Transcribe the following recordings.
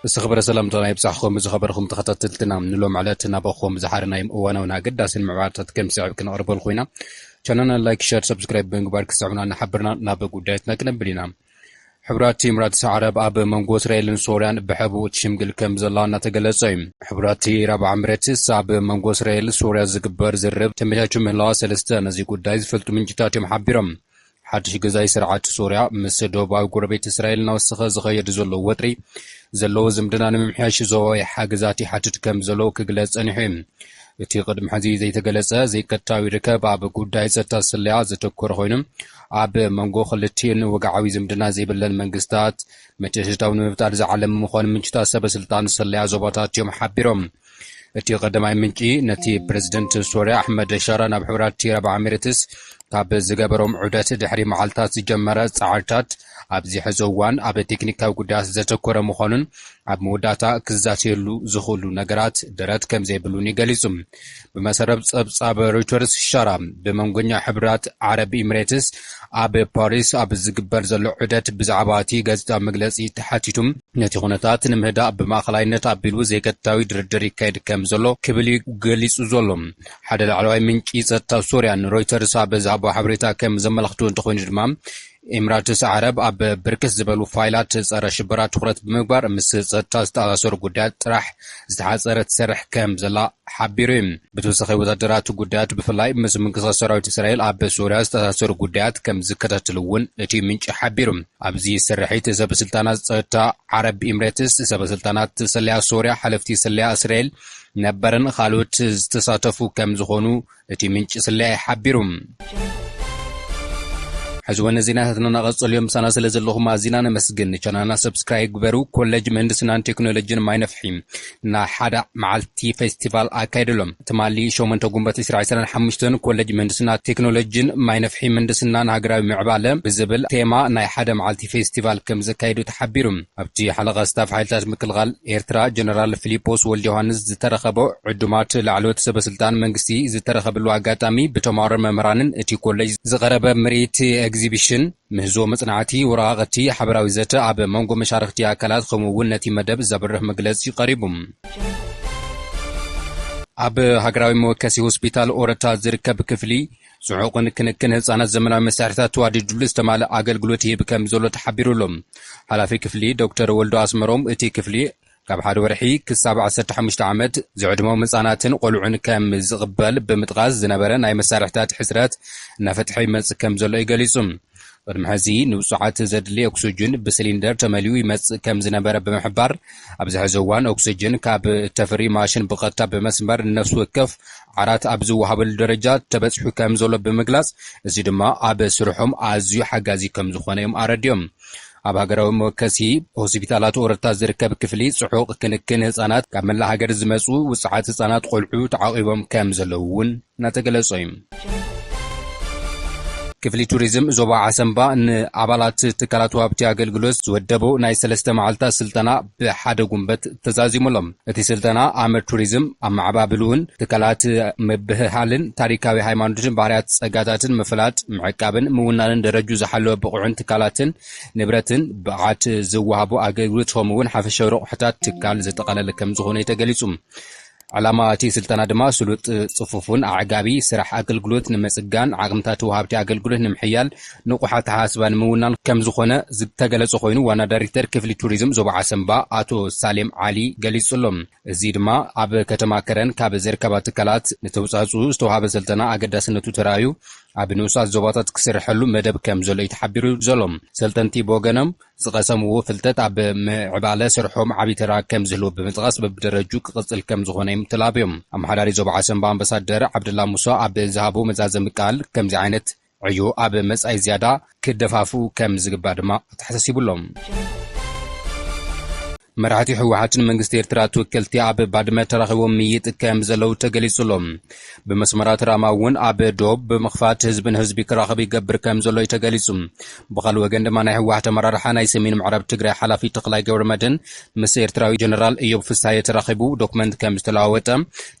ዝተኸበረ ሰላምታና ይብጻሕኹም ዝኸበርኩም ተኸታተልትና ንሎም ዕለት ናባኹም ዝሓርናዮም እዋናውን ኣገዳሲን ምዕባርታት ከም ስዕብ ክንቕርበልኩ ኢና ቻናና ላይክ ሸር ሰብስክራይብ ብምግባር ክሰዑና ንሓብርና ናብ ጉዳያትና ክነብል ኢና ሕብረት ኢምራትስ ዓረብ ኣብ መንጎ እስራኤልን ሶርያን ብሕቡእ ትሽምግል ከም ዘላ እናተገለጸ እዩ። ሕብረት ኢራብ ዓምረትስ ኣብ መንጎ እስራኤል ሶርያ ዝግበር ዝርርብ ተመቻችዩ ምህላዋ ሰለስተ ነዚ ጉዳይ ዝፈልጡ ምንጭታት እዮም ሓቢሮም። ሓድሽ ገዛኢ ስርዓት ሶርያ ምስ ደቡባዊ ጎረቤት እስራኤል እናወሰኸ ዝኸየድ ዘሎ ወጥሪ ዘለዎ ዝምድና ንምምሕያሽ ዞባዊ ሓገዛት ይሓትት ከም ዘሎ ክግለጽ ጸኒሑ እዩ። እቲ ቅድሚ ሕዚ ዘይተገለጸ ዘይቀጥታዊ ርከብ ኣብ ጉዳይ ጸጥታ ስለያ ዘተኮረ ኮይኑ ኣብ መንጎ ክልቲኤን ወግዓዊ ዝምድና ዘይብለን መንግስታት ምትእትታው ንምፍጣር ዝዓለመ ምዃኑ ምንጭታት ሰበስልጣን ስለያ ዞባታት እዮም ሓቢሮም። እቲ ቀዳማይ ምንጪ ነቲ ፕረዚደንት ሶርያ ኣሕመድ ሻራ ናብ ሕቡራት የረብ ዓሚረትስ ካብ ዝገበሮም ዑደት ድሕሪ መዓልታት ዝጀመረ ጻዕርታት ኣብዚ ሕዚ እዋን ኣብ ቴክኒካዊ ጉዳያት ዘተኮረ ምዃኑን ኣብ መወዳእታ ክዛተየሉ ዝኽእሉ ነገራት ደረት ከም ዘይብሉን እዩ ገሊጹ። ብመሰረት ጸብጻብ ሮይተርስ ሻራ ብመንጎኛ ሕብራት ዓረብ ኢሚሬትስ ኣብ ፓሪስ ኣብ ዝግበር ዘሎ ዑደት ብዛዕባ እቲ ጋዜጣዊ መግለጺ ተሓቲቱ ነቲ ኩነታት ንምህዳእ ብማእኸላይነት ኣቢሉ ዘይቀጥታዊ ድርድር ይካየድ ከም ዘሎ ክብል እዩ ገሊጹ ዘሎ። ሓደ ላዕለዋይ ምንጪ ጸጥታ ሶርያ ንሮይተርስ ኣብ ዝሃቦ ሓበሬታ ከም ዘመላኽቶ እንተኾይኑ ድማ ኤምራትስ ዓረብ ኣብ ብርክት ዝበሉ ፋይላት ጸረ ሽበራ ትኹረት ብምግባር ምስ ጸጥታ ዝተኣሳሰሩ ጉዳያት ጥራሕ ዝተሓጸረ ትሰርሕ ከም ዘላ ሓቢሩ እዩ። ብተወሳኺ ወታደራት ጉዳያት ብፍላይ ምስ ምንቅስቓስ ሰራዊት እስራኤል ኣብ ሶርያ ዝተኣሳሰሩ ጉዳያት ከም ዝከታተል እውን እቲ ምንጪ ሓቢሩ። ኣብዚ ስርሒት ሰበስልጣናት ጸጥታ ዓረብ ኤምሬትስ፣ ሰበስልጣናት ስለያ ሶርያ፣ ሓለፍቲ ስለያ እስራኤል ነበርን ካልኦት ዝተሳተፉ ከም ዝኾኑ እቲ ምንጪ ስለያ ሓቢሩ። ሕዚ ወነ ዜናታትና ናቐጽል እዮም ምሳና ስለ ዘለኹም ኣዚና ነመስግን ንቻናልና ሰብስክራይብ ግበሩ ኮለጅ ምህንድስናን ቴክኖሎጂን ማይ ነፍሒ ናይ ሓደ መዓልቲ ፌስቲቫል ኣካይደሎ ትማሊ ሸሞንተ ጉንበት ዕስራ ዕስራን ሓሙሽተን ኮለጅ ምህንድስና ቴክኖሎጂን ማይ ነፍሒ ምህንድስናን ሃገራዊ ምዕባለ ብዝብል ቴማ ናይ ሓደ መዓልቲ ፌስቲቫል ከም ዘካይዱ ተሓቢሩ ኣብቲ ሓለቓ ስታፍ ሓይልታት ምክልኻል ኤርትራ ጀነራል ፊሊጶስ ወልደዮሃንስ ዝተረኸቦ ዕዱማት ላዕለዎት ሰበስልጣን መንግስቲ ዝተረኸብሉ ኣጋጣሚ ብተማሃሮን መምህራንን እቲ ኮሌጅ ዝቐረበ ምርኢት ኤግዚቢሽን፣ ምህዞ መጽናዕቲ፣ ወረቓቕቲ፣ ሓበራዊ ዘተ ኣብ መንጎ መሻርኽቲ ኣካላት ከምኡ እውን ነቲ መደብ ዘብርህ መግለጺ ቀሪቡ። ኣብ ሃገራዊ መወከሲ ሆስፒታል ኦረታ ዝርከብ ክፍሊ ጽዑቕን ክንክን ህጻናት ዘመናዊ መሳርሒታት ተዋዲድሉ ዝተማልእ ኣገልግሎት ይህብ ከም ዘሎ ተሓቢሩ ኣሎ። ሓላፊ ክፍሊ ዶክተር ወልዱ ኣስመሮም፣ እቲ ክፍሊ ካብ ሓደ ወርሒ ክሳብ ዓሰርተ ሓሙሽተ ዓመት ዝዕድሞም ህጻናትን ቆልዑን ከም ዝቕበል ብምጥቓስ፣ ዝነበረ ናይ መሳርሒታት ሕጽረት እናፈትሐ ይመጽእ ከም ዘሎ እዩ ገሊጹ። ቅድሚ ሕዚ ንብጹዓት ዘድሊ ኦክስጅን ብስሊንደር ተመሊኡ ይመጽእ ከም ዝነበረ ብምሕባር፣ ኣብዚ ሕዚ እዋን ኦክስጅን ካብ እተፍሪ ማሽን ብቐጥታ ብመስመር ንነፍሲ ወከፍ ዓራት ኣብ ዝወሃበሉ ደረጃ ተበጺሑ ከም ዘሎ ብምግላጽ፣ እዚ ድማ ኣብ ስርሖም ኣዝዩ ሓጋዚ ከም ዝኾነ እዮም ኣረዲኦም። ኣብ ሃገራዊ መወከሲ ሆሲፒታላት ኦረታ ዝርከብ ክፍሊ ጽሑቕ ክንክን ህጻናት ካብ መላእ ሃገር ዝመጹ ውጽዓት ህጻናት ቆልዑ ተዓቚቦም ከም ዘለዉ እውን እናተገለጸ'ዩ። ክፍሊ ቱሪዝም ዞባ ዓሰምባ ንኣባላት ትካላት ወሃብቲ ኣገልግሎት ዝወደቦ ናይ ሰለስተ መዓልታት ስልጠና፣ ብሓደ ጉንበት ተዛዚሙ ኣሎ። እቲ ስልጠና ኣመር ቱሪዝም፣ ኣመዓባብልኡን ትካላት ምብህሃልን፣ ታሪካዊ ሃይማኖትን ባህርያት ፀጋታትን ምፍላጥ፣ ምዕቃብን ምውናንን ደረጅኡ ዝሓለወ ብቑዕን ትካላትን ንብረትን ብቕዓት ዝወሃቡ ኣገልግሎት ከምኡ እውን ሓፈሻዊ ረቑሕታት ትካል ዘጠቓለለ ከምዝኾነ እዩ ተገሊፁ። ዕላማ እቲ ስልጠና ድማ ስሉጥ፣ ፅፉፉን ኣዕጋቢ ስራሕ ኣገልግሎት ንምፅጋን፣ ዓቕምታት ወሃብቲ ኣገልግሎት ንምሕያል፣ ንቑሕ ኣተሓሳስባ ንምውናን ከምዝኾነ ዝተገለፀ ኮይኑ ዋና ዳይሬክተር ክፍሊ ቱሪዝም ዞባ ዓሰምባ ኣቶ ሳሌም ዓሊ ገሊፁ'ሎ። እዚ ድማ ኣብ ከተማ ከረን ካብ ዝርከባ ትካላት ንተውፃእፅኡ ዝተውሃበ ስልጠና ኣገዳስነቱ ተራእዩ ኣብ ንኡሳት ዞባታት ክስረሐሉ መደብ ከምዘሎ እዩ ተሓቢሩ ዘሎ። ሰልጠንቲ ብወገኖም፣ ዝቐሰምዎ ፍልጠት ኣብ ምዕባለ ስርሖም ዓቢ ተራ ከም ዝህልዎ ብምጥቓስ በብደረጅኡ ክቕጽል ከም ዝኾነ'ዮም ተላብዮም። ኣመሓዳሪ ዞባ ዓሰምባ ኣምበሳደር ዓብደላ ሙሳ ኣብ ዝሃቦ መዛዘሚ ቃል ከምዚ ዓይነት ዕዮ ኣብ መጻኢ ዝያዳ ክደፋፍኡ ከም ዝግባእ ድማ ኣተሓሳሲቡ'ሎ። መራሕቲ ህወሓትን መንግስቲ ኤርትራ ተወከልቲ ኣብ ባድመ ተራኺቦም ምይይጥ ከም ዘለዉ ተገሊጹ ኣሎ። ብመስመራት ራማ እውን ኣብ ዶብ ብምኽፋት ህዝቢ ንህዝቢ ክራኸብ ይገብር ከም ዘሎ እዩ ተገሊጹ። ብኻልእ ወገን ድማ ናይ ህወሓት ኣመራርሓ ናይ ሰሜን ምዕራብ ትግራይ ሓላፊ ተኽላይ ገብረመድህን ምስ ኤርትራዊ ጀነራል እዮብ ፍስሃየ ተራኺቡ ዶክመንት ከም ዝተለዋወጠ፣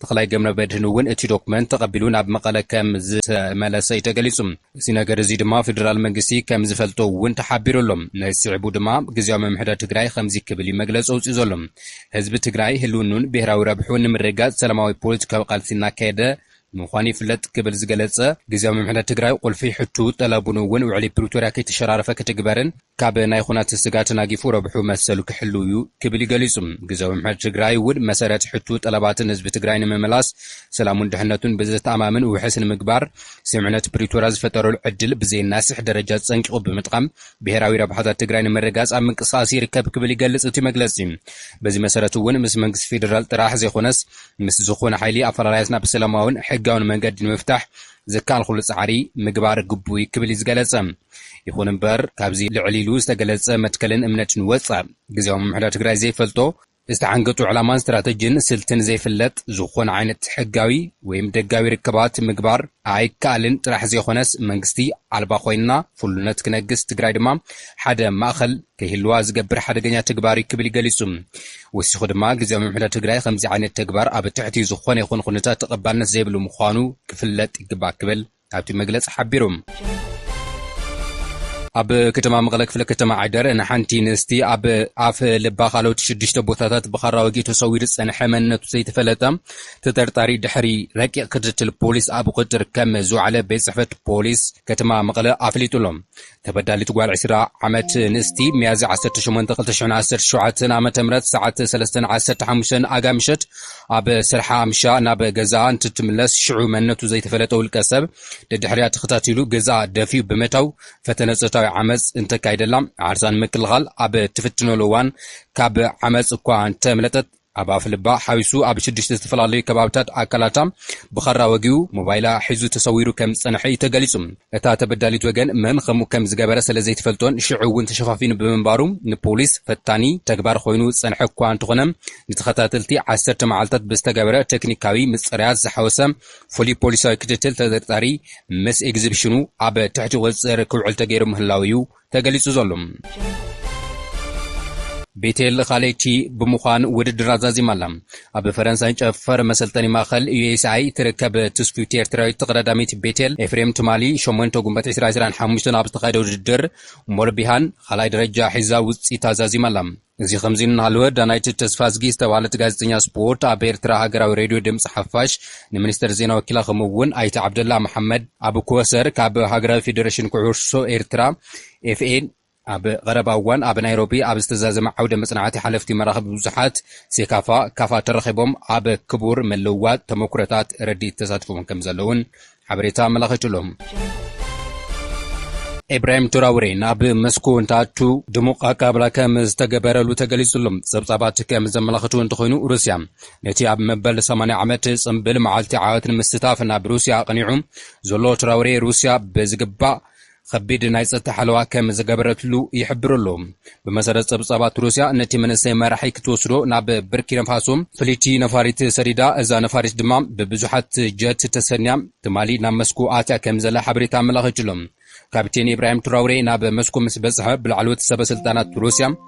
ተኽላይ ገብረመድህን እውን እቲ ዶክመንት ተቐቢሉ ናብ መቐለ ከም ዝተመለሰ እዩ ተገሊጹ። እዚ ነገር እዚ ድማ ፌደራል መንግስቲ ከም ዝፈልጦ እውን ተሓቢሩ ኣሎ። ነዚ ስዒቡ ድማ ግዝያዊ ምምሕዳር ትግራይ ኸምዚ ክብል እዩ መግለፂ ኣውፂኡ ዘሎ። ህዝቢ ትግራይ ህልውንኡን ብሄራዊ ረብሕኡን ንምርግጋፅ ሰላማዊ ፖለቲካዊ ቃልሲ እናካየደ ምዃኑ ይፍለጥ ክብል ዝገለፀ ግዝያዊ ምምሕዳር ትግራይ ቑልፊ ሕቱኡ ጠለቡን እውን ውዕሊ ፕሪቶርያ ከይተሸራረፈ ክትግበርን ካብ ናይ ኹናት ስጋ ተናጊፉ ረብሑ መሰሉ ክሕልው እዩ ክብል እዩ ገሊፁ። ግዘዊ ምሕረት ትግራይ እውን መሰረት ሕቱ ጠለባትን ህዝቢ ትግራይ ንምምላስ ሰላሙን ድሕነቱን ብዘተኣማምን ውሕስ ንምግባር ስምዕነት ፕሪቶርያ ዝፈጠረሉ ዕድል ብዘየናስሕ ደረጃ ፀንቂቑ ብምጥቓም ብሄራዊ ረብሓታት ትግራይ ንምርግጋፅ ኣብ ምንቅስቓስ ይርከብ ክብል ይገልፅ እቲ መግለፂ። በዚ መሰረት እውን ምስ መንግስቲ ፌደራል ጥራሕ ዘይኾነስ ምስ ዝኾነ ሓይሊ ኣፈላላያትና ብሰላማውን ሕጋውን መንገዲ ንምፍታሕ ዝከኣል ኹሉ ፃዕሪ ምግባር ግቡእ እዩ ክብል እዩ ዝገለፀ። ይኹን እምበር ካብዚ ልዕል ኢሉ ዝተገለፀ መትከልን እምነትን ወፃእ ግዝያዊ ምምሕዳር ትግራይ ዘይፈልጦ፣ ዝተዓንገጡ ዕላማን ስትራተጂን ስልትን ዘይፍለጥ ዝኾነ ዓይነት ሕጋዊ ወይም ደጋዊ ርክባት ምግባር ኣይካኣልን ጥራሕ ዘይኾነስ መንግስቲ ኣልባ ኾይና ፍሉነት ክነግስ ትግራይ ድማ ሓደ ማእኸል ከይህልዋ ዝገብር ሓደገኛ ተግባር እዩ ክብል ገሊፁ። ወሲኹ ድማ ግዝያዊ ምምሕዳር ትግራይ ኸምዚ ዓይነት ተግባር ኣብ ትሕቲ ዝኾነ ይኹን ኹነታት ተቐባልነት ዘይብሉ ምዃኑ ክፍለጥ ይግባእ ክብል ኣብቲ መግለጺ ሓቢሩ። ኣብ ከተማ መቐለ ክፍለ ከተማ ዓይደር ንሓንቲ ንስቲ ኣብ ኣፍ ልባ ካልኦት ሽዱሽተ ቦታታት ብኻራ ወጊኡ ተሰዊሩ ዝጸንሐ መንነቱ ዘይተፈለጠ ተጠርጣሪ ድሕሪ ረቂቕ ክትትል ፖሊስ ኣብ ቁጥጥር ከም ዝወዓለ ቤት ጽሕፈት ፖሊስ ከተማ መቐለ ኣፍሊጡሎም ተበዳሊት ጓል ዕስራ ዓመት ንእስቲ ሚያዝያ ዓሰርተ ሸሞንተ ክልተ ሽሕን ዓሰርተ ሸውዓተን ኣመተ ምህረት ሰዓት ሰለስተን ዓሰርተ ሓሙሽተን ኣጋ ምሸት ኣብ ስርሓ ኣምሻ ናብ ገዛኣ እንትትምለስ ሽዑ መንነቱ ዘይተፈለጠ ውልቀ ሰብ ደድሕሪኣ ተኸታቲሉ ገዛኣ ደፊኡ ብምእታው ፈተነ ጾታዊ ዓመጽ እንተካይደላ ዓርሳ ንምክልኻል ኣብ እትፍትነሉ እዋን ካብ ዓመጽ እኳ እንተምለጠት ኣብ ኣፍልባ ሓዊሱ ኣብ ሽዱሽተ ዝተፈላለዩ ከባብታት ኣካላታ ብኻራ ወጊኡ ሞባይላ ሒዙ ተሰዊሩ ከም ዝጸንሐ እዩ ተገሊጹ። እታ ተበዳሊት ወገን መን ከምኡ ከም ዝገበረ ስለ ዘይትፈልጦን ሽዑ እውን ተሸፋፊኑ ብምንባሩ ንፖሊስ ፈታኒ ተግባር ኮይኑ ዝጸንሐ እኳ እንተኾነ ንተኸታተልቲ ዓሰርተ መዓልታት ብዝተገበረ ቴክኒካዊ ምጽራያት ዝሓወሰ ፍሉይ ፖሊሳዊ ክትትል ተጠርጣሪ ምስ ኤግዚብሽኑ ኣብ ትሕቲ ቁጽጽር ክውዕል ተገይሩ ምህላዉ እዩ ተገሊጹ ዘሎ። ቤቴል ኻሌቺ ብምዃን ውድድር ኣዛዚማ ኣላ። ኣብ ፈረንሳይ ጨፈር መሰልጠኒ ማእኸል፣ USI፣ እትርከብ ትስፍውቲ ኤርትራዊት ተቐዳዳሚት ቤቴል ኤፍሬም ትማሊ ሸሞንተ ጉንበት ዕስራ ዕስራን ሓሙሽተን ኣብ ዝተኻየደ ውድድር ሞልቢሃን ኻልኣይ ደረጃ ሒዛ ውፅኢት ኣዛዚማ ኣላ። እዚ ከምዚ እናሃለወ ዳናይት ተስፋዝጊ ዝተብሃለት ጋዜጠኛ ስፖርት ኣብ ኤርትራ ሃገራዊ ሬድዮ ድምጺ ሓፋሽ ንሚኒስተር ዜና ወኪላ ከምኡ'ውን ኣይተ ዓብደላ መሓመድ ኣብ ኮሰር ካብ ሃገራዊ ፌደረሽን ኩዕሶ ኤርትራ፣ FA፣ ኣብ ቐረባ እዋን ኣብ ናይሮቢ ኣብ ዝተዛዘመ ዓውደ መጽናዕቲ ሓለፍቲ መራኽቢ ብዙሓት፣ ሴካፋ፣ ካፋ ተረኺቦም ኣብ ክቡር ምልውዋጥ ተመኩሮታት ረዲት ተሳቲፎም ከምዘለዉን ሓበሬታ ኣመላኺቱ'ሎ። ኢብራሂም ትራውሬ ናብ መስኮ እንትኣቱ ድሙቕ ኣቀባብላ ከም ዝተገበረሉ ተገሊጹ'ሎ። ጸብጻባት ከም ዘመላኽትዎ እንተኾይኑ ሩስያ ነቲ ኣብ መበል ሰማንያ ዓመት ጽምብል መዓልቲ ዓወት ንምስታፍ ናብ ሩስያ ኣቕኒዑ ዘሎ ትራውሬ ሩስያ ብዝግባእ ኸቢድ ናይ ጸጥታ ሓለዋ ከም ዝገበረትሉ ይሕብር ኣሎ። ብመሰረት ጸብጻባት ሩስያ፣ ነቲ መንእሰይ መራሒ ክትወስዶ ናብ ብርኪነፋሶ ፍልይቲ ነፋሪት ሰዲዳ፣ እዛ ነፋሪት ድማ ብብዙሓት ጀት ተሰንያ ትማሊ ናብ መስኮ ኣትያ ከም ዘላ ሓበሬታ ኣመላኺቱ'ሎ። ካፒቴን ኢብራሂም ትራውሬ ናብ መስኮ ምስ በጽሐ ብላዕለዎት ሰበ ስልጣናት ሩስያ፣